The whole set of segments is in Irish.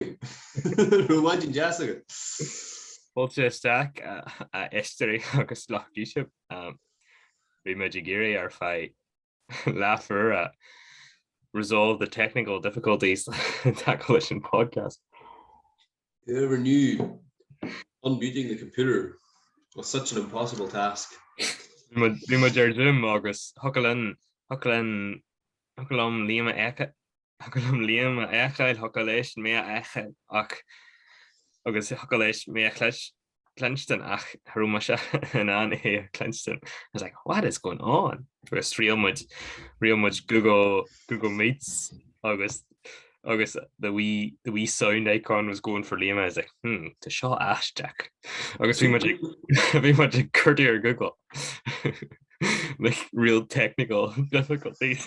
Raibh maidin deas agat. Fáilte isteach, a éisteoirí agus lucht YouTube. Bhí muid ag iarraidh ar feadh leathuair resolve the technical difficulties and tackle leis an podcast. Whoever knew unmuting the computer was such an impossible task. Bhí muid ar Zoom agus thiocfadh liom Liam a fheiceáil. Thiocfadh liom Liam a fheiceáil, thiocfadh leis mé a fheiceáil ach agus thiocfadh leis mé a chluinstin ach cha raibh mise in ann é a chluinstin. I was like, what is going on? Agus thriail muid, thriail muid Google Meets agus agus the wee sound icon was going for Liam, I was like, hmm, tá seo aisteach. Agus bhí muid ag, bhí muid ag cuartú ar Google like real technical difficulties.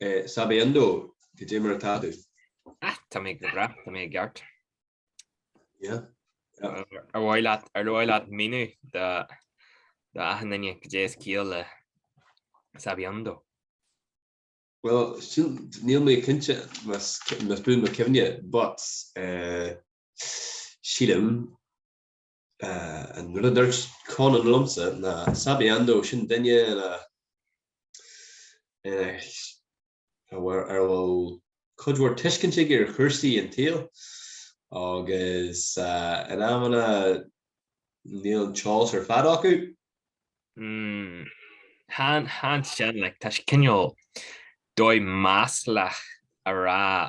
Eh, sabiondo, caidé mar atá tú. Ah, tá mé go bhreá, tá mé i gceart. Yeah. Ar mhaith leat, ar mhaith leat míniú do do achan duine caidé is ciall le sabiondo. Well, sin, níl mé cinnte más más buan mo chuimhne, but eh, sílim An rud a dúirt Conan liomsa ná sabiondo sin duine ina ar a bhfuil cuid mhór tuiscint aige ar chúrsaí an tsaoil agus in amanna níl an t-eolas ar fad acu. So ansin like tá sé cineál dóigh maslach a rá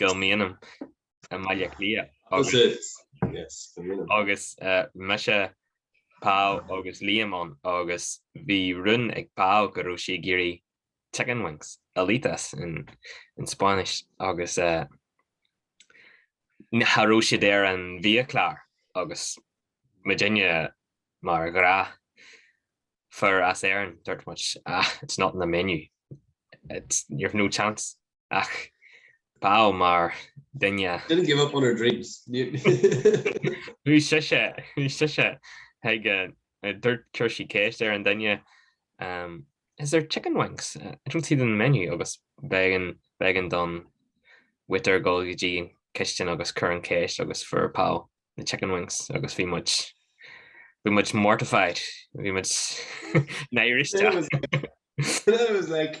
i mbialann i mBaile Átha Cliath agus mise, Pau agus Liam ann agus bhí rún ag Pau go raibh sí ag iarraidh chicken wings, alitas in Spáinnis, agus cha raibh siad ar an bhiachlár agus muidne mar ghnáthfhir as Éirinn, dúirt muid, ah, it's not in the menu, it's, you've no chance. ach Pau mar duine. Didn't give up on her dreams. Bhí sise, bhí sise ag, dúirt, chuir sí ceist ar an duine, Is there chicken wings? I don't see them on the menu agus b'éigean, b'éigean don waiter dul go dtí an chistin agus cur an cheist agus fuair Pau na chicken wings agus bhí muid, bhí muid mortified, bhí muid náiriste. It was like,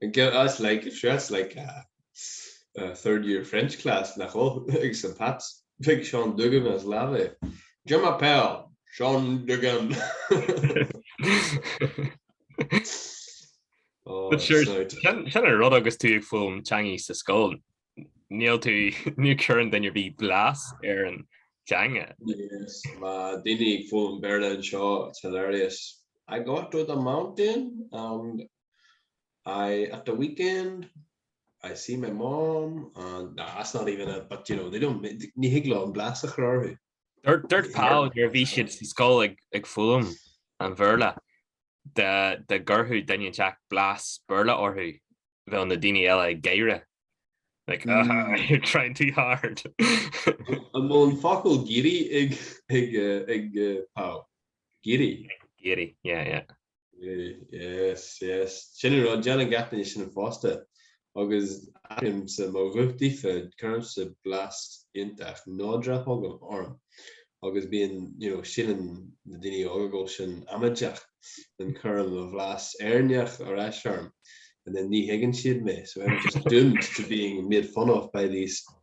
That's like, sure that's like a third year French class nach ea? Ag St Pat's. Beidh Seán Duggan as lámh é. Je m'appelle Seán Duggan! Sin an rud agus tú ag foghlaim teangacha sa scoil, níl tú, ní chuireann duine ar bith blas ar an teanga. Yes, na daoine ag foghlaim Béarla anseo it's hilarious. I go to the mountain and and at the weekend I see my mom and no that's not even it but you know they don't ní thig leo an blas a chur orthu. Dúirt Paul nuair a bhí siad sa scoil ag foghlaim an Bhéarla dá gcuirfeadh duine inteacht blas Béarla orthu bheadh na daoine eile ag gáire like ah you're trying too hard. An bhfuil an focal giri ag Paul? Giri? Giri yeah yeah. Yes, yes. Sin an rud, déanann gach duine sin fosta. Agus athraímse mo ghuth daofa, cuirimse blas iontach nádúrtha chugainn, orm. Agus bíonn, you know, síleann na daoine óga go bhfuil sin amaideach, and cuirim mo bhlas Éireannach ar ais orm, and then ní thuigeann siad mé, so I'm just doomed to being made fun of by these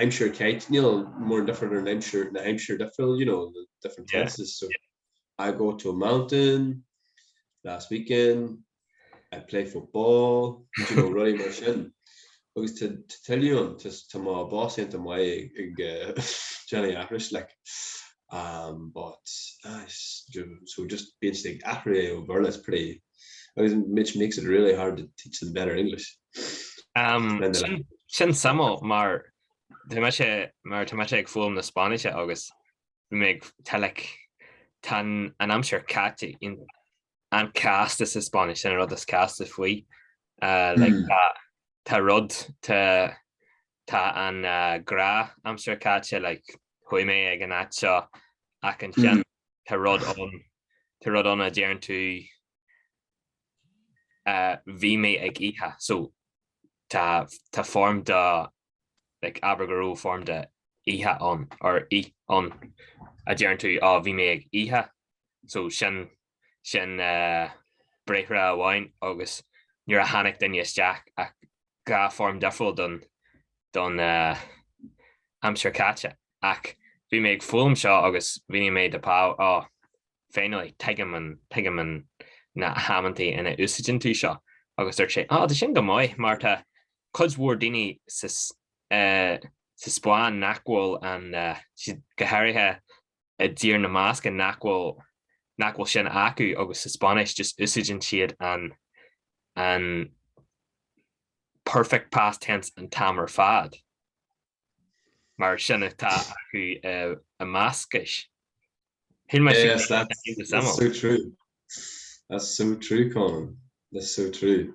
aimsir caite níl mórán difear idir an aimsir na haimsirí difriúla you know the different tenses so I go to a mountain last weekend I play football you know rudaí mar sin agus to tell you an tá mo boss iontach maith ag déanamh aithris like um but so just being ag aithris ó bhéarla is pretty which makes it really hard to teach them better English. Sin suimiúil mar tá mise mar tá mise ag foghlaim na Spáinnise agus bhí mé tá like tá an aimsir caite an-chasta sa Spáinnis sin an rud is casta faoi like tá rud tá Tá an gnáthaimsir caite, like chuaigh mé ag an áit seo ach ansin tá rud ann, tá rud ann a deireann tú bhí mé ag ithe, so tá foirm de like abair go raibh foirm de ithe ann or ith ann a deireann tú bhí mé ag ithe, so sin sin briathar amháin agus nuair a tháinig duine isteach ach dhá foirm difriúil don aimsir caite ach bhí mé ag foghlaim seo agus mhínigh mé do Pau ó finally tuigim na hamantaí ina úsáideann tú seo agus dúirt sé á tá sin go maith mar tá cuid mhór daoine sa Spáinn nach bhfuil ann go háirithe i dTír na mBascach nach bhfuil nach bhfuil sin acu agus sa Spáinnis just úsáideann siad an an perfect past tense an t-am ar fad mar sin atá acu eh, i mBascais. That's so true. That's so true Conán. That's so true.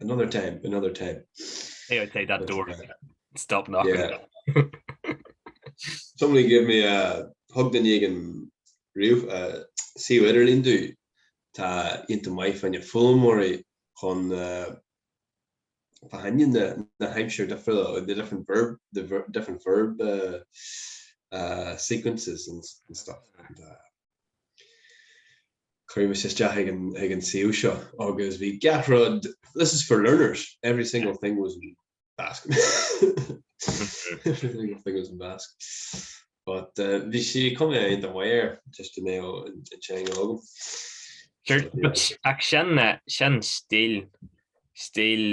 Another time, another time. Hey, I'd say that door. Stop knocking. Yeah. Somebody give me a hug déanfaidh mé an suíomh idirlín duit. Tá sé iontach maith fá na foghlaimeoirí chun fáil aithne na haimsire difriúla, the different verb, the different verb sequences and stuff. Chuir mise isteach ag an ag an suíomh seo agus bhí gach rud this is for learners, every single thing was in Basque every single thing was in Basque but eh bhí sé cuma ina ndóigh ar just cineál an an teanga agam Sure, but but yeah, ach sin eh, sin stíl stíl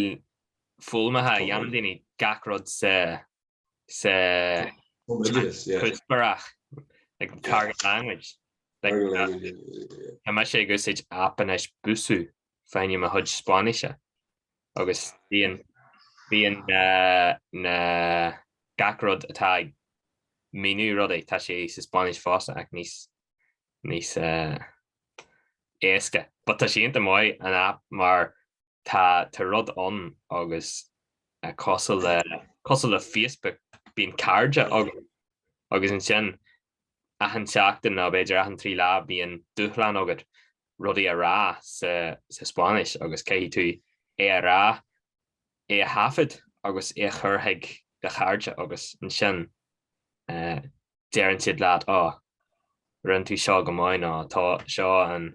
foghlama a dhéanann daoine gach rud sa sa chuspóireach, like target language, tá mise ag úsáid aip anois Busuu, fá choinne mo chuid Spáinnise agus bíonn bíonn na gach rud atá ag míniú rudaí tá sé sa Spáinnis fosta ach níos níos éasca, but tá sé iontach maith an aip mar Tá tá rud ann agus eh cosúil le cosúil le Facebook bíonn cairde agat agus ansin achan tseachtain nó b'fhéidir achan trí lá bíonn dúshlán agat rudaí a rá sa sa Spáinnis agus caithfidh tú é a rá é a thaifead agus é a chur chuig do chairde agus ansin eh deireann siad leat oh rinne tú seo go maith nó tá seo an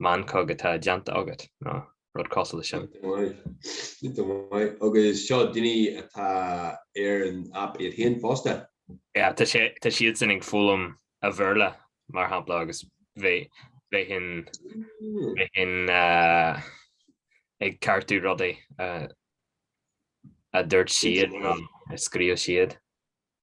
meancóg atá déanta agat nó rud cosúil le sin. An-mhaith. Agus seo daoine atá ar an aip iad féin fosta. Yeah, tá sé, tá siadsan ag foghlaim an Bhéarla, mar shampla, agus bheinn, bheinn, bheinn, uh, ag ceartú rudaí, uh, a dúirt siad nó a scríobh siad.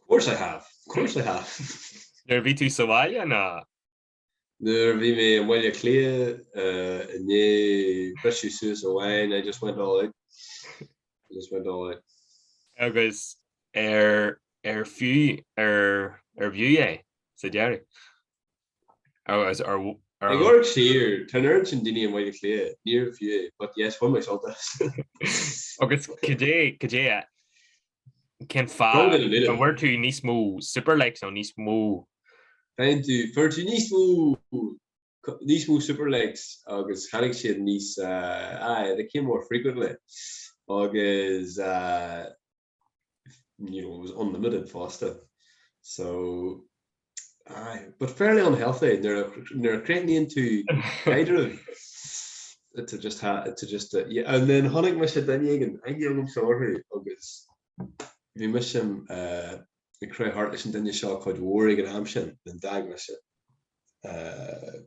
Of course I have. Of course I have. Nuair a bhí tú sa bhaile nó? Nuair a bhí mé i mBaile Átha Cliath i ndiaidh briseadh suas amháin, I just went all out. I just went all out. Agus ar ar fiú ar arbh fhiú é sa deireadh? Ag amharc siar, tá an oiread sin daoine i mBaile Átha Cliath, níorbh fiú é, but yes, bhain mé sult as. Agus cadé, cadé a, cén fá, a bhfuir tú níos mó super likes nó níos mó? fuair tú, fuair tú níos mó, níos mó super likes agus tháinig siad níos, uh, aye, they came more frequently. Agus, uh, you know, it was unlimited fosta. So, aye, but fairly unhealthy, nuair a cruithníonn tú caidreamh, to just ha, to just, uh, yeah, and then tháinig mise duine éigin, a raibh suim agam orthu, agus bhí mise, uh, ag crochadh thart leis an duine seo cuid mhór ag an am sin, then d'fhág mise. Uh,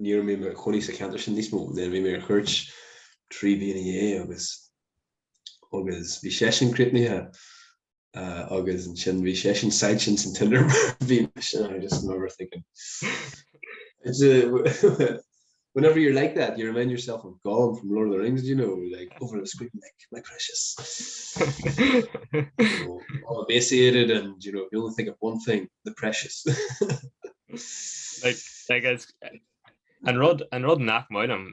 ní raibh mé i mo chónaí sa ceantar sin níos mó, then bhí mé ar cuairt trí bliana ó shin agus agus bhí seisean críochnaithe agus an sin bhí sé sin side sin san tinder bhí sin just remember thinking whenever you're like that you remind yourself of Gollum from Lord of the Rings you know like over the screen like my precious so, all emaciated and you know you only think of one thing the precious like like as and rod and rod nach maidm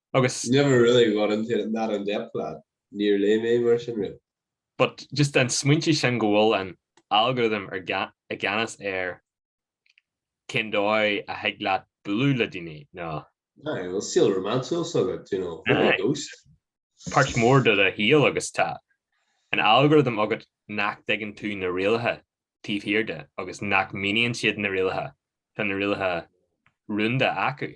agus. Never really got into it that in depth lad, ní raibh mé mar sin riamh. But just an smaoineamh sin go bhfuil an algorithm i gceannas ar cén dóigh a thig leat bualadh le daoine nó. Aye, bhfuil saol rómánsúil agat, do you know, full of ghosts. Páirt mhór de do shaol agus tá an algorithm agus nach dtuigeann tú na rialacha taobh thiar de agus nach míníonn siad na rialacha, tá na rialacha rúnda acu.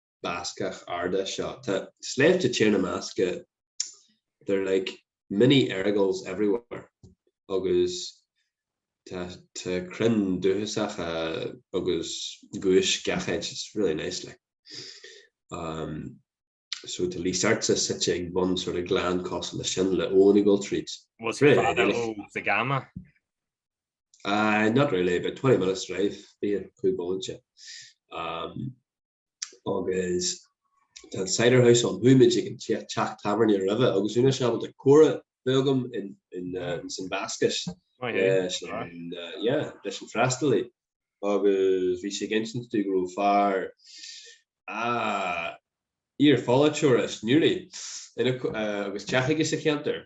Bascach arda seo. Tá sléibhte tíre ina measc, they're like mini Errigals everywhere agus tá tá crainn dúchasacha agus giúis gach áit it's really nice like um so tá Lísartsa suite ag bun sort of gleann cosúil leis sin le Owenigall Trees. Was Really? Fada Really? ó sa gama. Aye, not really, about twenty minutes drive bhí an cúlbhóithre. Agus tá an cider house ann, chuaigh muid ag an teach tábhairne roimhe agus bhí mise ábalta comhrá bheith agam insan Bhascais leis an fhreastalaí agus bhí sé ag insint dúinn go raibh fear iar-pholaiteoir as Newry agus teach aige sa cheantar.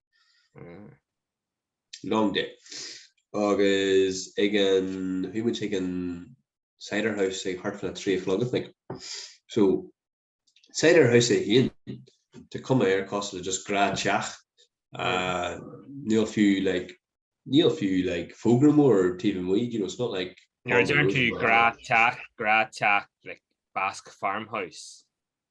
long day agus ag an bhí muid ag an cider house ag thart fán trí a chlog i think so cider house é féin tá cuma air cosúil le just grá teach uh níl fiú like níl fiú like fógra mór taobh amuigh you know it's not like Nuair a deireann tú grá teach grá teach like basque farmhouse.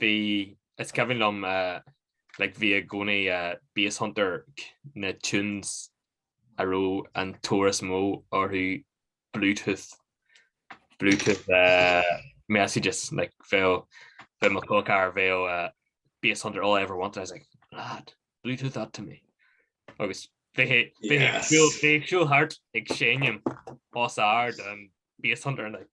bhí is cuimhin liom like bhí i gcónaí Basshunter na tunes a raibh an tóir is mó orthu Bluetooth Bluetooth messages like bheadh bheadh mo chóipchearr bheadh Basshunter all I ever wanted I was like lad Bluetooth that to me agus bhí sé bhí sé ag siúl bhí sé ag siúl thart ag seinm os ard an Basshunter like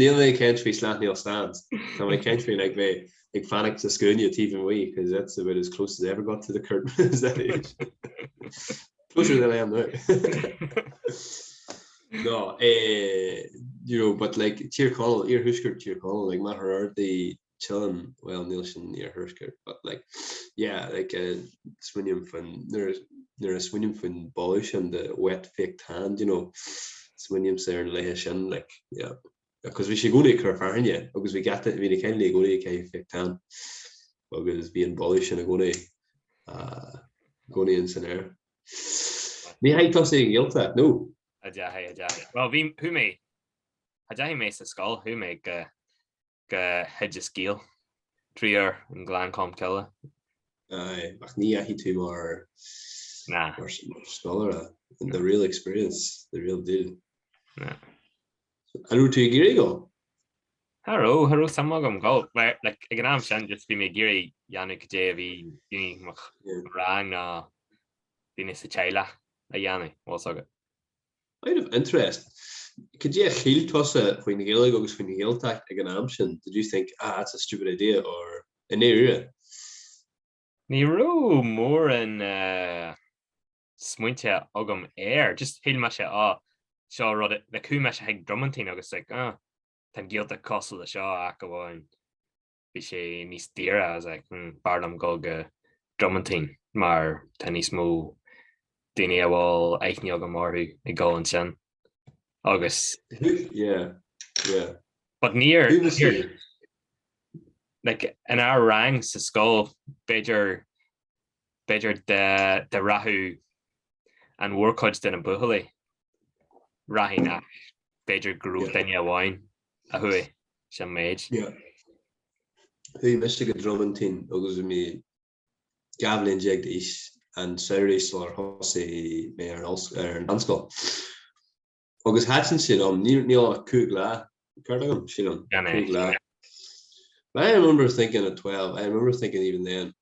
Níl mé ag caint faoi Slaughtneil Stands, tá mé ag caint faoi like mé ag fanacht sa scuaine taobh amuigh cos that's about as close as I ever got to the Cúirt at that age. Closer than I am now. no, eh, you know, but like Tír Chonaill, iarthuaisceart Tír Chonaill, like Machaire Rabhartaigh Teileann, bhuel níl sin iarthuaisceart but like yeah like smaoiním faoin nuair a smaoiním faoin boladh sin den wet fake tan do you know smaoinímse ar na laethe sin like yeah cos bhí sé i gcónaí ag cur fearthainne agus bhí gach duine bhí na cailíní i gcónaí ag caitheamh fake tan agus bhí an boladh sin i gcónaí ah i gcónaí ins an aer. Ní dheachaidh tusa an Ghaeltacht no! An deachaidh an deachaidh. Bhuel bhí chuaigh mé an deachaidh mé sa scoil chuaigh mé go go hOideas Gael, triúr i nGleann Cholm Cille. Aye, ach ní dheachaidh tú mar Nah. mar scoláire. Nah. The real experience, the real deal. Nah. An raibh tú ag iarraidh ghabháil? Cha raibh, cha raibh suim agam ghabháil, mar, like, ag an am sin just bhí mé ag iarraidh a dhéanamh caidé a bhí daoine mo, Yeah. mo rang nó daoine sa teaghlach a dhéanamh, bhfuil a fhios agat. Out of interest, cad é a shíl tusa faoin Ghaeilge agus faoin Ghaeltacht ag an am sin? Did you think, ah, that's a stupid idea or i ndáiríre? Ní raibh móran smaointe agam air, just shíl mé sé, ah, seo rud a, like chuaigh mise chuig Dromantine agus like, ah, tá an Ghaeltacht cosúil le seo, ach amháin bhí sé níos daoire I was like b'fhearr liom gabháil go Dromantine mar tá níos mó daoine a bhfuil aithne agam orthu ag dul ansin agus yeah yeah but níor like in our rang sa scoil b'fhéidir b'fhéidir de de rachadh an mhórchuid de na buachaillí rachadh nó b'fhéidir grúpa daoine amháin a chuaigh sa méid. Chuaigh mise go Dromantine agus bhí mé dhá bhliain déag d'aois an samhradh sular thosaigh mé ar an mheánscoil. Agus thaitin sé liom, ní raibh ach cúig lá, ceart agam, sílim, cúig lá. I remember thinking at twelve, I remember thinking even then,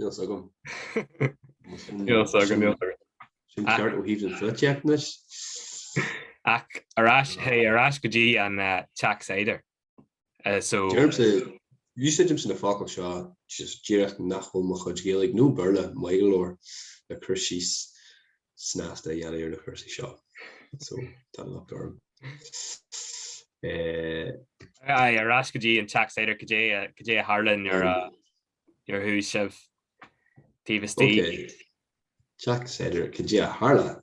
Níl agam. Níl agam, níl agam. Sin ceart ó thaobh an flitéachnis. Ach ar ais, hé, ar ais go dtí an uh, teach cider. Uh, so... Deirimse, úsáidimse na focail seo, just díreach nach bhfuil mo chuid Gaeilge, nó Béarla, maith go leor, le cur síos snásta a dhéanamh ar na cúrsaí seo. So, tá an locht orm. Eh, Aye, ar ais go dtí an teach cider, cad é, uh, cad é a tharla nuair a, Nuair a chuaigh sibh taobh istigh. Ok. Teach cider, Cad é a tharla?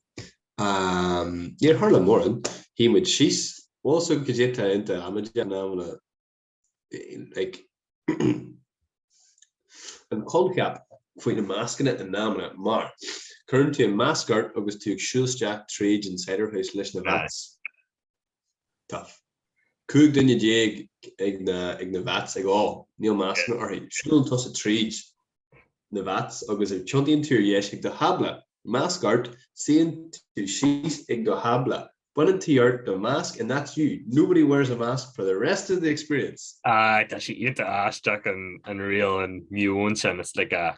Ahm, níor tharla mórán. Shuigh muid síos. Bhfuil a fhios agat cad é tá iontach amaideach like an coincheap faoi na mascanna in amanna mar, cuireann tú an masc ort agus tú ag siúl isteach tríd an cider house leis na vats. Tá 15 duine ag na ag na vats ag ól, níl mascanna orthu. Siúlann tusa tríd na vats agus tiontaíonn tú ar dheis ag do thábla, masc ort, suíonn tú síos ag do thábla, baineann tú ort do mhasc and that's you, nobody wears a mask for the rest of the experience! Aye, tá sé iontach aisteach an riail, an meon sin, it's like a.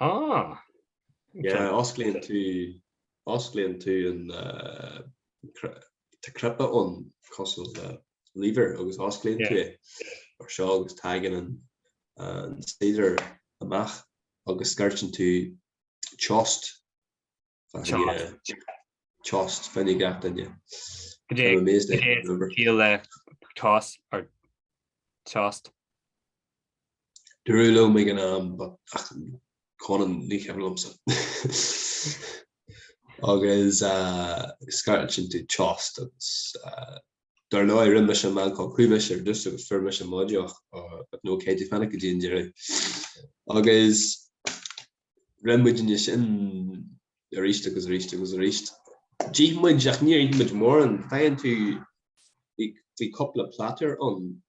Ah! Yeah, osclaíonn tú, osclaíonn tú an Tá cnaipe ann cosúil le lever agus osclaíonn tú é mar seo agus tagann an cider amach agus scairteann tú txotx Txotx féin ag gach duine. Tost or txotx. Dúradh liom ag an am but Conan ní cuimhin liomsa. Agus scairteann tú txotx agus dar ndóigh rinne mise meancóg, chuaigh mise ar dtús agus fuair mise mo dheoch but no caithfidh tú fanacht go dtí an deireadh. Agus rinne muidne sin arís agus arís agus arís. D'ith muid ach níor ith muid mórán. Faigheann tú, bhí, bhí cúpla platter ann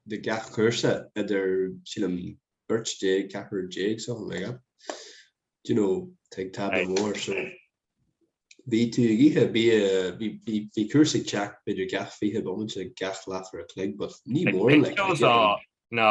do gach cúrsa idir, sílim, beirt déag, ceathrar déag, something like that. Do you know, tá tú ag tábla mór so bhí tú ag ithe, bhí, bhí, bhí, bhí cúrsa ag teacht b'fhéidir gach fiche bomaite gach leathuair a' chloig but ní mórán like, Ag ceol ná, ná,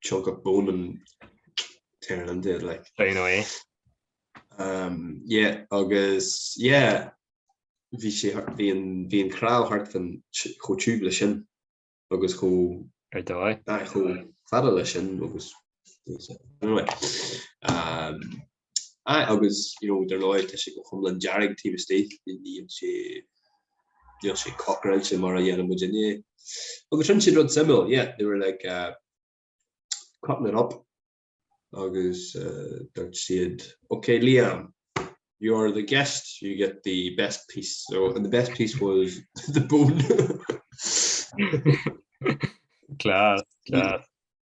chunk of bone and tearing into it like I know eh um yeah agus yeah bhí sé bhí an bhí an cnámh thart fá chomh tiubh le sin agus chomh hard, chomh fada le sin agus anyway um Aye agus you know dar ndóigh tá sé go hiomlán dearg taobh istigh níl sé níl sé cockroach mar a dhéanann muidinne. Agus sin an rud, sílim, yeah, they were like uh, cutting it up agus uh, dúirt siad, okay Liam, you are the guest, you get the best piece. So and the best piece was the bone. class, class.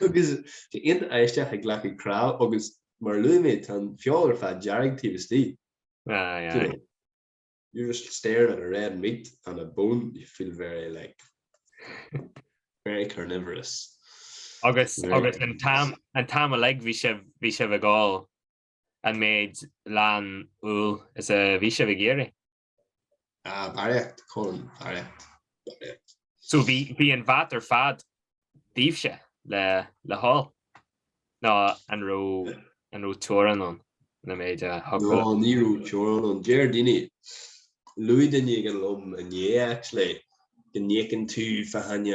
Agus sé iontach aisteach ag glacadh cnámh agus mar a luaigh mé tá an feoil ar fad dearg taobh istigh. Aye aye. You're just staring at a red meat and a bone you feel very like very carnivorous. Agus agus an t-am an t-am uilig bhí sibh bhí sibh ag ól an méid leann úll is a bhí sibh ag iarraidh. Ah, barraíocht, Colm, barraíocht, barraíocht. So bhí, bhí an vat ar fad daoibhse le, le hól? Nó an raibh, an raibh teorainn ann leis an méid a thug No, uait? ní raibh teorainn ann. Deir daoine, luaigh duine éigin liom inné actually, go n-íocann tú fá choinne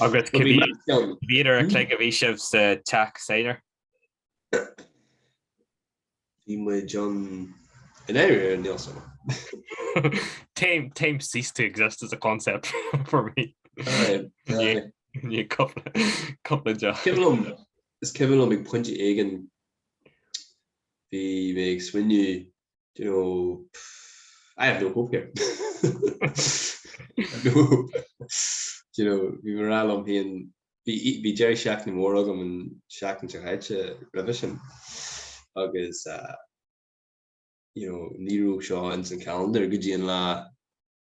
Agus cá mhéad uair an chloig a bhí sibh sa teach cider? Bhí muid an in éirí ar an neosama. Time ceased to exist as a concept for me. Cúpla deoch. Is cuimhin liom, is cuimhin liom ag pointe éigin bhí mé ag smaoineamh Do you know, pff, I have no hope here. I've no hope. Do you know, bhí mé ag rá liom féin, bhí, bhí deireadh seachtaine mór agam an seachtain seo chaite roimhe sin agus, ah, you know, ní raibh seo ins an calendar go dtí an lá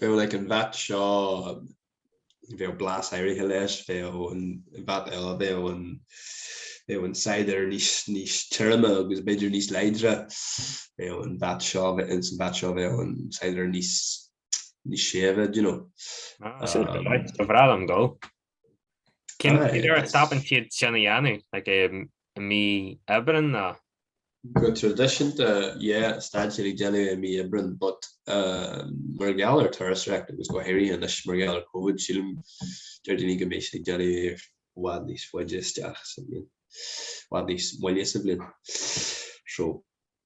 bheadh like an vat seo bheadh blas áirithe leis bheadh an vat eile bheadh an bheadh an cider níos níos tirime agus b'fhéidir níos láidre bheadh an vat seo ins an vat seo bheadh an cider níos níos séimhe do you know. Ba bhreá liom dul. Cén uair a stopann siad sin a dhéanamh? Like i mí Aibreáin nó? Go traidisiúnta, yeah, stadann siad ag déanamh i mí Aibreáin, but mar gheall ar turasóireacht agus go háirithe anois mar gheall ar Covid, sílim, deir daoine go mbeidh siad á dhéanamh i bhfad níos faide isteach sa bhliain, i bhfad níos moille sa bhliain. So.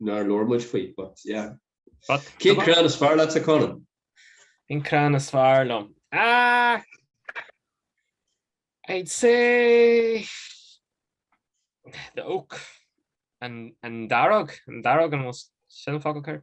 nár labhair muid faoi but yeah. But Cén Tá- crann is fearr leat a Conan? An crann is fearr liom. Ah! I'd say... The oak. An, an dearg. An dearg an most... Sin an focal céard?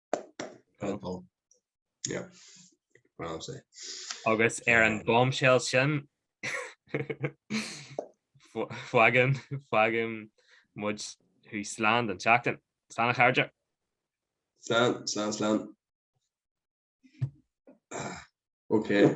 agus ar an bombshell sin fágann fágann muid thú slán don tseachtain. Slán a chairde. Slán, slán, slán. Ah, okay.